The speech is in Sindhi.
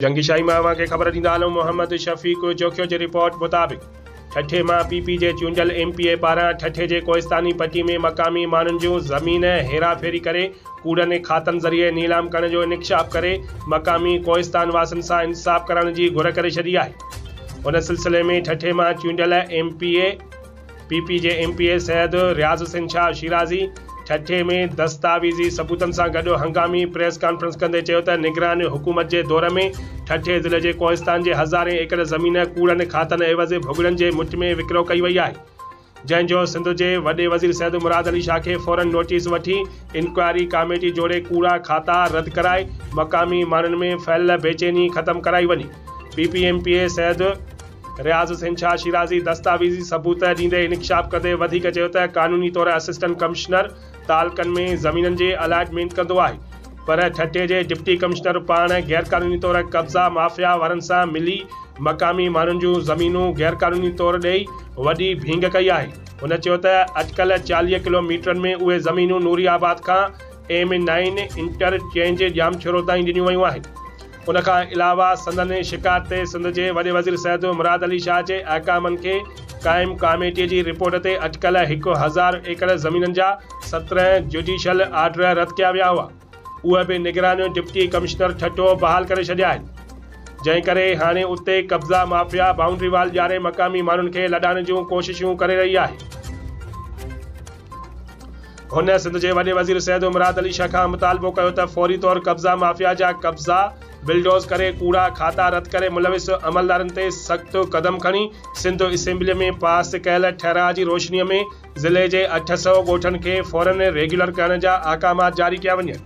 جنگي شاهي مان اوهان کي خبر ڏيندا هلون محمد شفيق جوکيو جي رپورٽ مطابق ٺٽي مان پي پي جي چونڊيل ايم پي اي پاران ٺٽي جي ڪوهستاني پٽي ۾ مقامي ماڻهن جون زمين هيرا ڦيري ڪري ڪوڙن کاتن ذريعي نيلام ڪرڻ جو انڪشاف ڪري مقامي ڪوهستان واسن سان انصاف ڪرائڻ جي گهر ڪري ڇڏي آهي ان سلسلي ۾ ٺٽي مان چونڊيل M P A P P جي M P A Syed Riaz Hussain Shah Shirazi Thatta ۾ دستاويزي ثبوتن سان گڏ هنگامي پريس ڪانفرنس ڪندي چيو ته نگران حڪومت جي دور ۾ ٺٽي ضلعي جي ڪوهستان جي هزارين ايڪڙ زمين ڪوڙن کاتن عيوض ڀڳڙن جي مٺ ۾ وڪرو ڪئي وئي آهي جنهن جو سنڌ جي وڏي وزير سيد مراد علي شاهه کي فورن نوٽيس وٺي انڪوائري ڪاميٽي جوڙي ڪوڙا کاتا رد ڪرائي مقامي ماڻهن ۾ ڦهليل بيچيني ختم ڪرائي وڃي P P M P A Syed Riaz Hussain Shah Shirazi دستاويزي ثبوت ڏيندي انڪشاف ڪندي وڌيڪ چيو ته قانوني طور اسسٽنٽ ڪمشنر تعلقن ۾ زمينن جي الائٽمينٽ ڪندو آهي پر ٺٽي جي ڊپٽي ڪمشنر پاڻ غيرقانوني طور قبضا مافيا وارن سان ملي مقامي ماڻهن جون زمينون غيرقانوني طور ڏئي وڏي ڀينگ ڪئي آهي هن چيو ته اٽڪل چاليهه ڪلو ميٽرن ۾ اهي زمينون نوري آباد کان M nine interchange Jamshoro تائين ڏنيون ويون آهن ان کان علاوه سندن شڪايت تي سنڌ جي وڏي وزير سيد مراد علي شاهه جي احڪامن کي قائم ڪاميٽيء جي رپورٽ تي اٽڪل هڪ هزار ايڪڙ زمينن جا سترهن جڊيشل آرڊر رد ڪيا ويا هئا اهي به نگران ڊپٽي ڪمشنر ٺٽو بحال ڪري ڇڏيا آهن جنهن ڪري هاڻي اتي قبضا مافيا بائونڊري وال ڄاڻي مقامي ماڻهن کي لڏائڻ جون ڪوششون ڪري رهي آهي. هن سنڌ جي وڏي وزير سيد مراد علي شاهه کان مطالبو ڪيو ته فوري طور قبضا مافيا جا قبضا بلڊوز ڪري ڪوڙا کاتا رد ڪري ملوث عملدارن تي سخت قدم کڻي سنڌ اسيمبلي ۾ پاس ڪيل ٺهراء جي روشني ۾ ضلعي جي اٺ سؤ ڳوٺن کي فورن ريگيولر ڪرڻ جا احڪامات جاري ڪيا وڃن.